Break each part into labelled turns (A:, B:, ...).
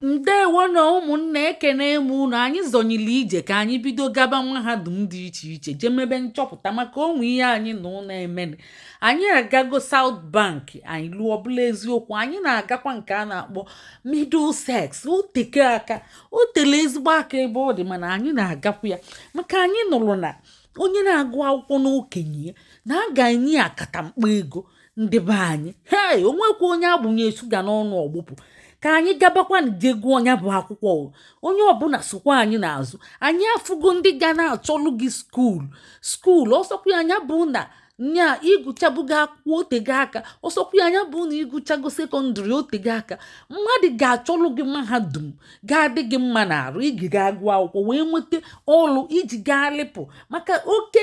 A: ndewo nụ ụmụnna ekene m unu anyị zọnyili ije ka anyị bido gaba mahadum dị iche iche jee mebe nchọpụta maka o nwe ihe anyị nụlụ na-eme anyị agago south bank anyị luo ọ bụlụ eziokwu anyị na-agakwa nke a na-akpọ middlesex o teka aka o tele ezigbo aka ebe ọ dị mana anyị na-agakwa ya maka anyị nụlụ na onye na-agụ akwụkwọ n'okenye ya na a ga-enye ya akatamkpa ego ndị be anyị hei o nwekwa onye a gbụnye shuga n'ọnụ ọ gbụpụ ka anyị gabakwanụ je gụọ nya bụ akwụkwọ onye ọbụla sokwa anyị n'azụ anyị afụgo ndị ga na-achọlụ gị school school ọ sọkwa nya bụ na nya ị gụchabugo akwụkwọ o tego aka ọ sọkwa nya bụ na ị gụchago secondary o tego aka mmadụ ga-achọlụ gị mahadum ga-adị gị mma n'arụ i ji gaa gụọ akwụkwọ wee nweta ọlụ i ji gaa lịpụ maka oke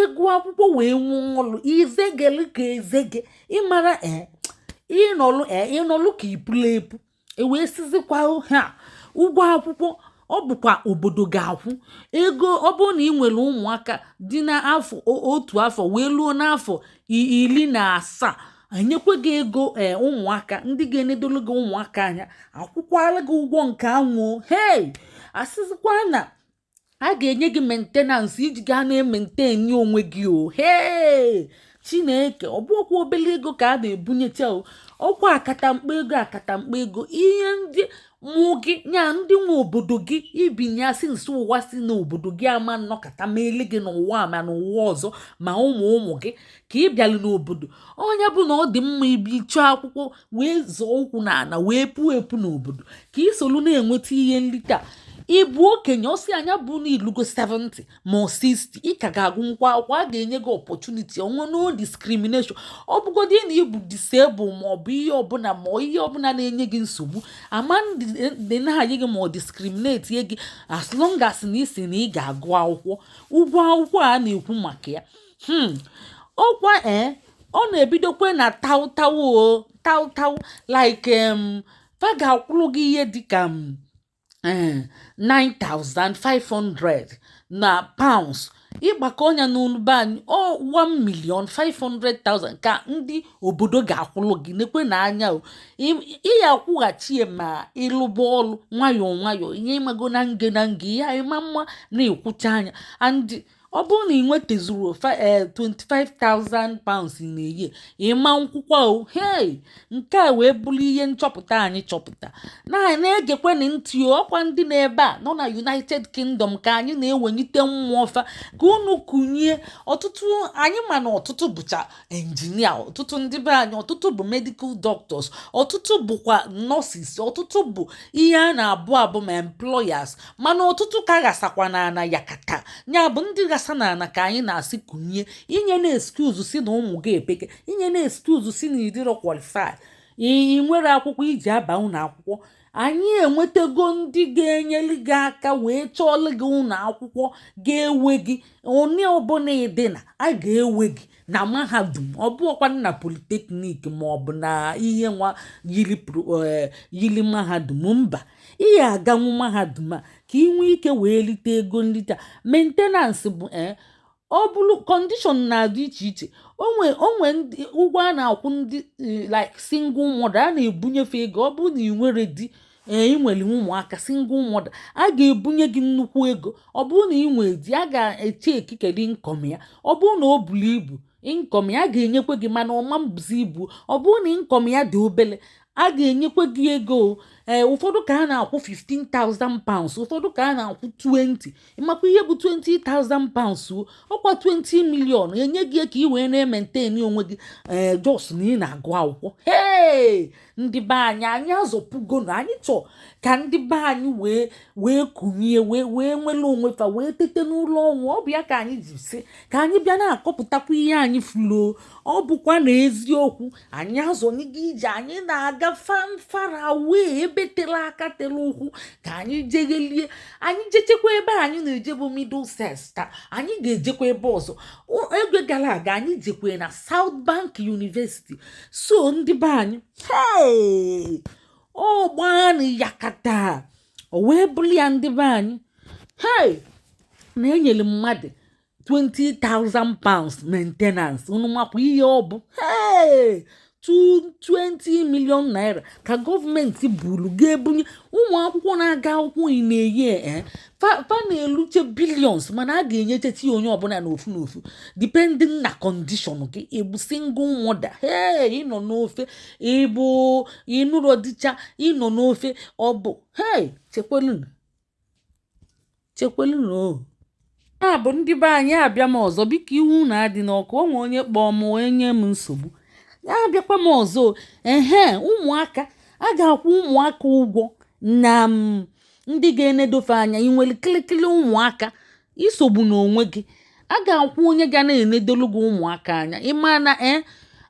A: ịgụ akwụkwọ wee nwee ọlụ izegele ka ezege ịmara ee ịnọlụ ee ị nọlụ ka i pulu epu e wee sịzikwa na ụgwọ akwụkwọ ọ bụkwa obodo ga-akwụ ego ọ bụrụ na ị nwere ụmụaka dị n'afọ otu afọ wee luo n'afọ iri na asaa enyekwa gị ego ee eh, ụmụaka ndị ga-enedolu gị ụmụaka anya a kwụkwalụ gị ụgwọ nke anwa o hei a sịzikwa na a ga-enye gị maintenance i ji gaa na-ementeni onwe gị o hee chineke ọ bụrọkwa obele ego ka a na-ebunyecha o ọ kwa akatamkpa ego akatamkpa ego ihe ndị mụ gị nya ndị nwe obodo gị ibinye asị nso ụwa si n'obodo gị ama nnọkata melụ gị n'ụwa a ma n'ụwa ọzọ ma ụmụ ụmụ gị ka ị bịalụ n'obodo oyibo na ọ dị mma ị bịa chọọ akwụkwọ wee zọọ ụkwụ n'ala wee puo epu n'obodo ka i solu na-enweta ihe nlita ịbụ okenye ọ sị nya bụ na i lugo 70 ma 60 ị ka ga-agụnwukwa akwụkwọ a ga-enye gị opportunity ọnwa no discrimination ọ bụgodị na ị bụ disable ma ọ bụ ihe ọbụla ma ihe ọbụla na-enye gị nsogbu ama n-deny gị ma ọ discriminate gị as long as na ị sị na ị ga-agụ akwụkwọ ụgwọ akwụkwọ a na-ekwu maka ya hmm ọ kwa e eh, ọ na-ebidokwa na taụtaụ o taụtaụ like um, fa ga-akwụrụ gị ihe dịka um, 9500 eh, na pounds ị gbakọọ nya n'ụlọ be anyị ọ 1 million 500,000 ka ndị obodo ga-akwụlụ gị nekwenụ anya ị ya akwụghachi ya ma ị lụba ọlụ nwayọọ nwayọọ ihe ị mago na nge na nge ihe ị ma mma na ị kwụcha nya ọ bụrụ na i nwetazurọ 25,000 eh, pounds na a year ị ma nkwụkwa o hei nke a wee bụrụ ihe nchọpụta anyị chọpụta na na-egekwenị ntị ọ kwa ndị nọ ebe a nọ na united kingdom ka anyị na-ewenyite mmụọ fa ka unu kunie ọtụtụ anyị ma na ọtụtụ bụcha injinia ọtụtụ ndị be anyị ọtụtụ bụ medical doctors ọtụtụ bụkwa nurses ọtụtụ bụ ihe a na-abụ abụ ma employers mana ọtụtụ ka ghasakwa n'ana yakata nya bụ ndị ghasa n'ana ka anyị na-asị kunie inyena excuse sị na ụmụ gị epeke inyena excuse sị na ị dịrọ qualify ị nwere akwụkwọ iji aba ụnọ akwụkwọ anyị enwetago ndị ga-enyeli gị aka wee chọọlụ gị ụnọ akwụkwọ ga-ewe gị onye ọbụna ị dị na a ga-ewe gị na mahadum ọ bụọkwa na polytechnic ma ọ bụ na ihe nwa yili e, mahadum mba ị ya aganwu mahadum a ka ị nwee ike wee lite ego nlite maintenance bụ e, ọ bụrụ condition na-adị iche iche o nwe o nwe ụgwọ a na-akwụ ndị eh, like single mother a na-ebunyefe ego ọ bụrụ na ị nwere di ee eh, ị nwere ụmụaka single mother a ga-ebunye gị nnukwu ego ọ bụrụ na ị nwere di a ga-eche ekikere income ya ọ bụrụ na o buru ibu income ya ga-enyekwe gị mana ọ ma-ebuzi ibu ọ bụrụ na income ya dị obele a ga-enyekwa gị ego ee eh, ụfọdụ ka a na-akwụ 15,000 pounds ụfọdụ ka a na-akwụ 20 ị makwa ihe bụ 20,000 pounds ọkwa 20 million enye gị ka ị wee na-ementeni onwe gị ee eh, just na ị na-agụ akwụkwọ ee ndị be anyị anyị azọpụgonu anyị chọọ ka ndị be anyị wee wee kunie wee wee nwere onwe fa wee tete n'ụla ọnwụ ọ bụ ya ka anyị ji sị ka anyị bịa na-akọpụtakwa ihe anyị fụlụ ọ bụkwa na eziokwu anyị azọnyego ije anyị na-aga far far away ebe tere aka tere ụkwụ ka anyị jeghelie anyị jechekwa ebe anyị na-eje bụ Middlesex taa anyị ga-ejekwa ebe ọzọ oge gara aga anyị jekwe na South Bank University so ndị be anyị hei ọ gbaanụ yakata o wee bụrụ ya ndị be anyị hei na enyere mmadụ 20,000 pounds maintenance unu makwa ihe ọ bụ hei 20 million naira ka gọọmenti buru ga-ebunye ụmụ akwụkwọ na-aga akwụkwọ ị na-eyi e, e. fa na-eluche billions mana a ga-enyechechi onye ọbụla n'ofu n'ofu depending na condition gị ị bụ single mother hei ị nọ n'ofe ị bụ ị nụrọ di cha ị nọ n'ofe ọ bụ hei chekwelu chekwelunu o a bụ ndị be anyị abịa m ọzọ biko iwe unu adịna ọkụ o nwe onye kpọọ m onye nye m nsogbu ya abịakwa m ọzọ ehe ụmụaka a ga-akwụ ụmụaka ụgwọ na mm, ndị ga-enedo fa anya ị nwere kịlịkịlị ụmụaka isogbuna onwe gị a ga-akwụ onye ga na-enedolu gị ụmụaka anya ị ma na e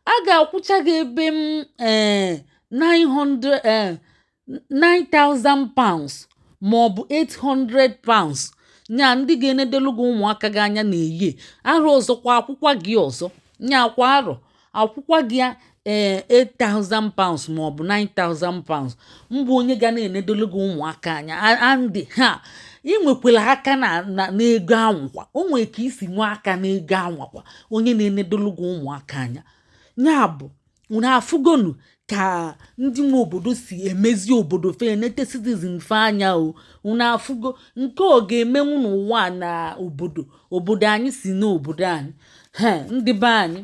A: a ga-akwụcha gị ebe m ee 900 ee 9,000 pounds ma ọ bụ 800 pounds nya ndị ga-enedelu gị ụmụaka gị anya na-eyi arọ ọzọkwa akwụkwa gị ọzọ nya kwa arọ akwụkwa gị ya ee eh, 8000 pounds ma ọ bụ 9000 pounds mbụ onye ga na-enedolu gị ụmụaka anya and ị ha enwekwara aka n'ego anwakwa o nwere ka i si nwee aka n'ego anwakwa onye na-enedolu gị ụmụaka anya ya bụ unu afụgonu ka ndị nwe obodo si emezi obodo fa enete citizen fa anya o unu afụgo nke ọ ga-emenwu n'ụwa a na obodo obodo anyị si n'obodo anyị he ndị be anyị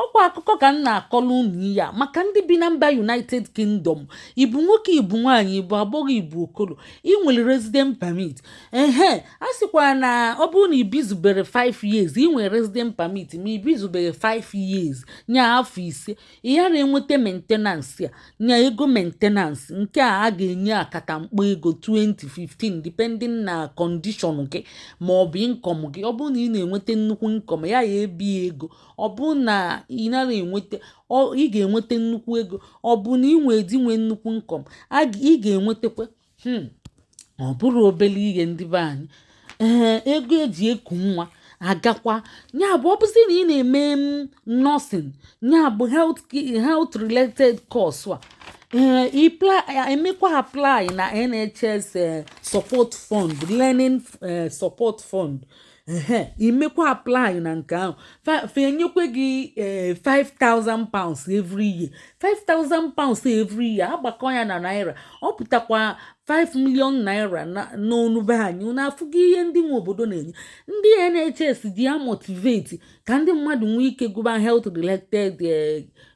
A: ọkwa akụkọ ka m na-akọrọ unu ihe a maka ndị bi na mba united kingdom ị bụ nwoke ị bụ nwaanyị ị bụ agbọghọ ị bụ okoro ị nwere resident permit ehe a sịkwa na ọ bụrụ na i bizubere 5 years ị nwere resident permit ma i bizubere 5 years nya afọ ise ị ghara enweta maintenance a nya ego maintenance nke a a ga-enye akatamkpo ego 2015 depending na condition gị ma ọ bụ income gị ọ bụrụ na ị na-enweta nnukwu income ya ya ebi ego ọ bụrụ na ị nara enweta ị ga-enweta nnukwu ego ọ bụ na ị nwee di nwee nnukwu income ị ga-enwetakwa hmm. ọ bụrụ obere ihe ndị be anyị ee ego eji eku nwa agakwa ya bụ ọ bụzi na ị na-eme mm, nursing ya bụ health related course a Eh, eh, emekwa apply na nhs eh, support fund learning support fund ehe i mekwa apply na nke ahụ fa enyekwa gị ee eh, 5000 pounds every year 5000 pounds every year agbakọ ya na naira ọ pụtakwa 5 million naira n'ọnụ be anyị unu afụgo ihe ndị nwe obodo na-enye ndị NHS ji ya motivate ka ndị mmadụ nwee ike gụba health related eh,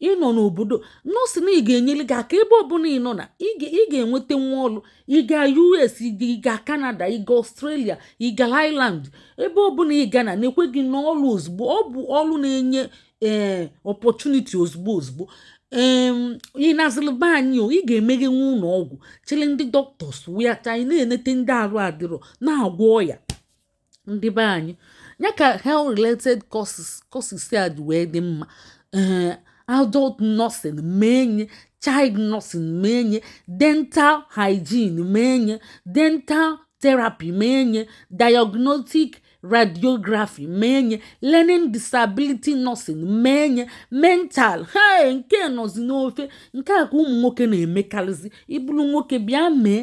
A: ị nọ n'obodo nursing ga-enyere gị aka ebe ọbụla ị nọ na ị ga-enwetanwu ọrụ ị ga US ị ga Canada ị ga Australia ị ga Ireland ebe ọbụla ị ga na na-ekwe gị n'ọrụ ozugbo ọ bụ ọrụ na-enye ee eh, opportunity ozugbo ozugbo ị nazịrị be anyị o ị ga-emeghenwu ụlọ ọgwụ chịrị ndị doctors wee taa ị na-enete ndị arụ adịrọ na-agwọ ọya ndị be anyị nya ka health related courses courses a ji wee dị mma ee eh, adult nursing mee nye child nursing mee nye dental hygiene mee nye dental therapy mee nye diagnostic radiography mee nye learning disability nursing mee nye mental health nke nọzi n'ofe nke a ka ụmụ nwoke na-emekarịzi ị bụrụ nwoke bịa mee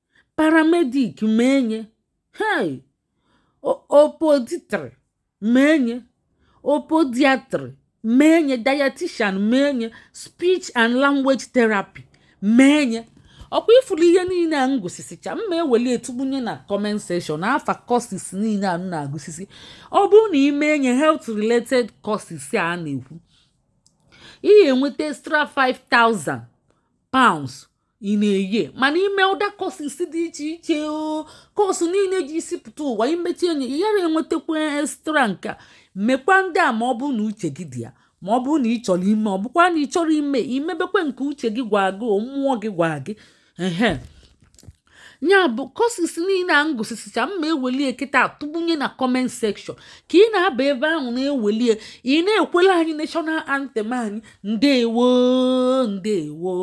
A: paramedic mee nye hei podiatry mee nye podiatry mee nye dietitian mee nye speech and language therapy mee nye ọkwa ifuru ihe niile a m gụsisicha m ma-eweli etugbunye na comment section afa courses niile a m na-agụsisi ọ bụrụ na i mee any health related courses a na-ekwu ị ya-enweta extra 5000 pounds in a year mana i mee other courses dị iche iche o course niile ji isi pụta ụwa imechi enyi ị yara enwetakwa extra nka mekwa ndị a ma ọ bụrụ na uche gị dị ya ma ọ bụrụ na ị chọrọ ime ọ bụkwa na ị chọrọ ime imebekwa nke uche gị gwa gị mmụọ gị gwa gị ehe nya bụ courses niile a m gụsisicha m ma-ewelie kịta atụgbunye na comment section ka ị na-aba ebe ahụ na-ewelie ị na-ekwela anyị national anthem anyị ndewo ndewo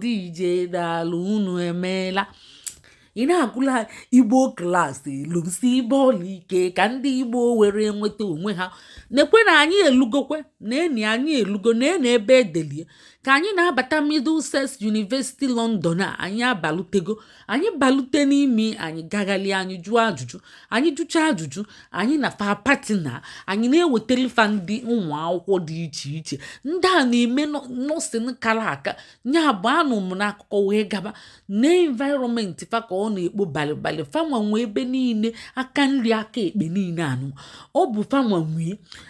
A: deeje daalụ unu emeela ị na-agụla igbo klaasị lụsibe ọlụ ike ka ndị igbo were nweta onwe ha nekwe na anyị elugokwe nene anyị elugo nene ebe e deli ya ka anyị na-abata middlesex university london a anyị abalutego anyị balute n'ime anyị gaghalịa anyị jụọ ajụjụ anyị jụcha ajụjụ anyị na fa partner anyị na-ewetara fa ndị ụmụ akwụkwọ dị iche iche ndị a na-eme nursing kara aka nya bụ anụ m n'akụkọ wee gaba na environment fa ka ọ na-ekpo balịbalị fanwa nwee ebe niile aka nri aka ekpe niile anụ ọ bụ fanwa nwee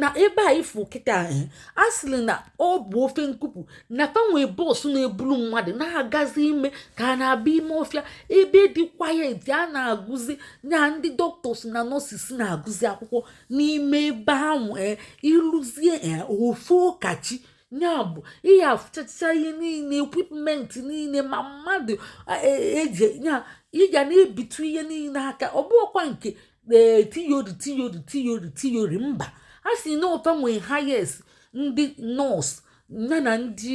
A: na ebe a ifu kịta eh a sịrị na ọ bụ ofe nkupu na fa nwe bọọsụ na-eburu mmadụ na-agazi ime ka a na-abịa ime ọfịa ebe dị quiet a na-agụzi na ndị doctors na nurses na-agụzi akwụkwọ n'ime ebe ahụ eh, ịlụzie eh, ofe ụkachi nya bụ ị ya-afụchacha ihe niile equipment niile ma mmadụ eji eh, ya ị ga na-ebitu ihe niile aka ọ bụkwa nke ee theory theory theory theory mba a sị na ọ fa nwee highest ndị nọọsụ ya na ndị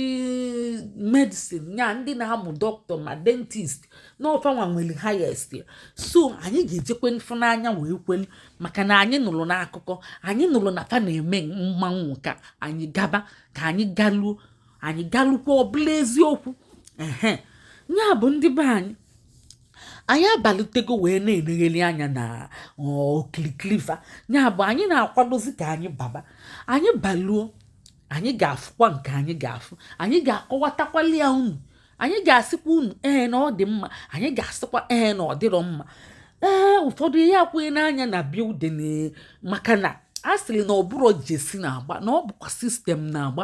A: medicine ya ndị na-amụ dọkịta ma dentist na ọ fa nwa nwere highest ya so anyị ga-ejekwe fụ n'anya wee kwelu maka na anyị nụrụ n'akụkọ anyị nụrụ na fa na-eme mmanwụ ka anyị gaba ka anyị galuo anyị galukwa ọ bụlụ eziokwu ehe ya bụ ndị be anyị anyị abalutego wee na-enegheli anya na okilikili fa ya bụ anyị na-akwadozi ka anyị baba anyị baluo anyị ga-afụkwa nke anyị ga-afụ anyị ga-akọwatakwali ya unu anyị ga-asịkwa unu ee na ọ dị mma anyị ga-asịkwa ee na ọ dịrọ mma ee ụfọdụ ihe akwụghị n'anya na building maka na a sịrị na ọ bụrọ jersey na-agba na ọ bụkwa system na-agba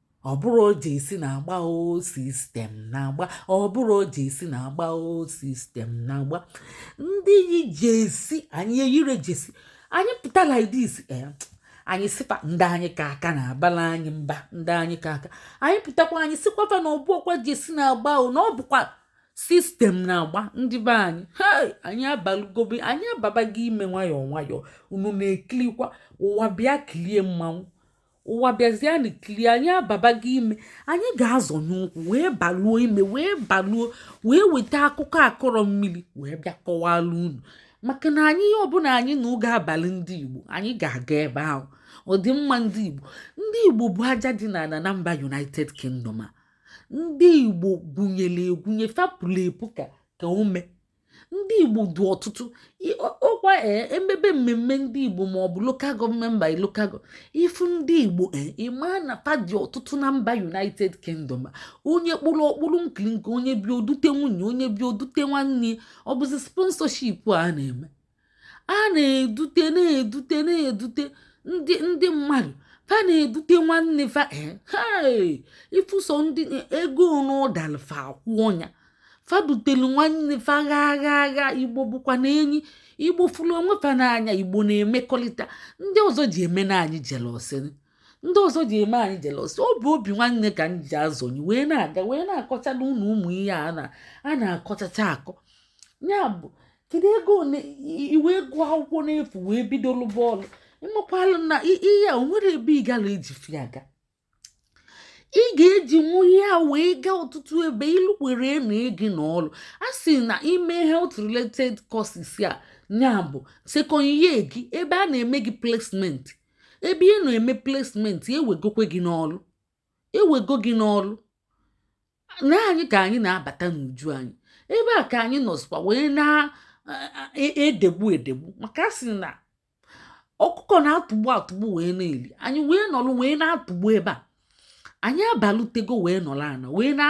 A: ọ bụrọ jesi na-agba ọ sistem na-agba ọ bụrọ jesi na-agba ọ sistem na-agba ndị yi jesi anyị eyire jesi anyị pụta like this eh, anyị sịkwa ndị anyị ka aka na-abala anyị mba ndị anyị ka aka anyị pụtakwa anyị sịkwafa na ọ bụrọkwa jesi na-agba o na ọ bụkwa sistem na-agba ndị be anyị anyị abalụgobe anyị ababago ime nwayọọ nwayọọ unu na-ekilikwa ụwa bịa kilie mmanwụ ụwa bịazianụ kirie anyị ababago ime anyị ga-azọnye ụkwụ wee baluo ime wee baluo wee weta akụkọ akọrọ mmiri wee bịa kọwalụ unu maka na anyị ihe ọbụla anyị na ọ ga-abalị ndị igbo anyị ga-aga ebe ahụ ọdịmma ndị igbo ndị igbo bụ aja dị n'ala na mba united kingdom a ndị igbo gwunyere egwunye fa puru epu ka ka ume ndị igbo dị ọtụtụ ọkwa e, emebe mmemme ndị igbo ma ọ bụ lokal gọọmenti by lokal ịfụ ndị igbo e, ịma na fa dị ọtụtụ na mba united kingdom onye kpụrụ ọkpụrụ nkiri nke onye bịa o dute nwunye onye bịa o dute nwanne ọ bụzi sponsorship a na-eme a na-edute na-edute na-edute ndị ndị mmadụ fa na-edute nwanne fa ịfụso eh, ndị ego n'ụdalụ fa akwụ ya fa dutelu nwanne fa ga ga ga igbo bụkwanụ enyi igbo fụrụ onwe fa n'anya igbo na-emekọrịta ndị ọzọ ji eme na anyị jelọsị ndị ọzọ ji eme anyị jelọsị ọ bụ obi nwanne ka anyị ji azọnyi wee na-aga wee na-akọchanụ ụmụ ihe a na-akọchacha akọ ya bụ kedu ego one i wee gụọ akwụkwọ n'efu wee bido lụba ọlụ ịmakwalụ na ihe a o nwere ebe ị gara eji ife a aga ị ga-ejinwu ihe a wee gaa ọtụtụ ebe i lukwe ewere gị n'ọlụ a sị na ime health related courses a ya bụ second year gị ebe a na-eme gị placement ebe ị na-eme placement ewegokwe gị n'ọlụ ewego gị n'ọlụ na anyị ka anyị na-abata n'uju anyị ebe a ka anyị nọzikwa wee na-edegbu e, e, e edegbu maka a sị na ọkụkọ na-atụgbu atụgbu wee na-eli anyị wee nọlụ wee na-atụgbu ebe a anyị abalutego wee nọlụ ana wee na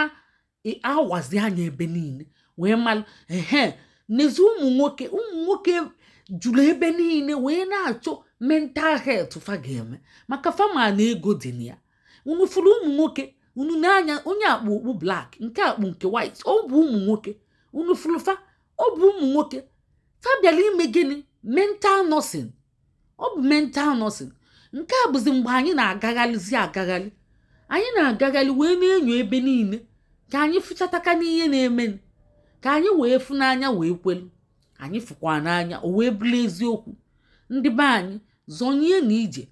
A: awazi anya ebe niile wee malụ ehe n'ezi ụmụ nwoke ụmụ nwoke juru ebe niile wee na-achọ mental health fa ga-eme maka fa ma na ego dị na ya unu fụrụ ụmụ nwoke unu n'anya onye a kpu okpu black nke a kpu nke white ọ bụ ụmụ nwoke unu fụrụ fa ọ bụ ụmụ nwoke fa bịara ime gịnị mental nursing ọ bụ mental nursing nke a bụzi mgbe anyị na-agagharịzi agagharị anyị na-agagharị wee na-enyo ebe niine ka anyị fụchataka n'ihe na-eme ka anyị wee fụ n'anya wee kwelu anyị fụkwa n'anya o wee bụrụ eziokwu ndị be anyị zọnyenụ ije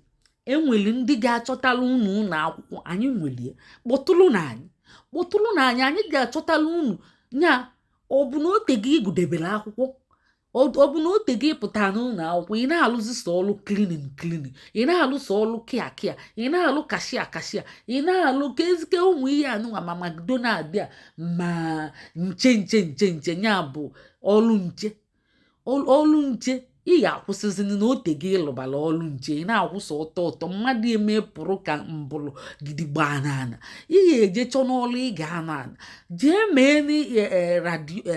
A: e nwere ndị ga-achọtara unu ụlọ akwụkwọ anyị nwere kpọtụrụnụ anyị kpọtụrụnụ anyị anyị ga-achọtara unu ya ọ bụ na o tego ị gụdebere akwụkwọ ọ bụ na o tego ị pụta n'ụnọ akwụkwọ ị na-alụzi sọ ọlụ cleaning cleaning ị na-alụ sọ ọlụ care care ị na-alụ cashier cashier ị na-alụ ka ezike ụmụ ihe anụnwa ma McDonald a ma nche nche nche nche ya bụ ọlụ nche ọlụ nche ị ga-akwụsịzi na o tego ị lụbala ọlụ nche ị na-akwụsị ọtọ ọtọ mmadụ eme pụrụ ka mbụlụ gidigba n'ana ị ga-eje chọnụ ọlụ ị ga-anọ ana jee mee e, e,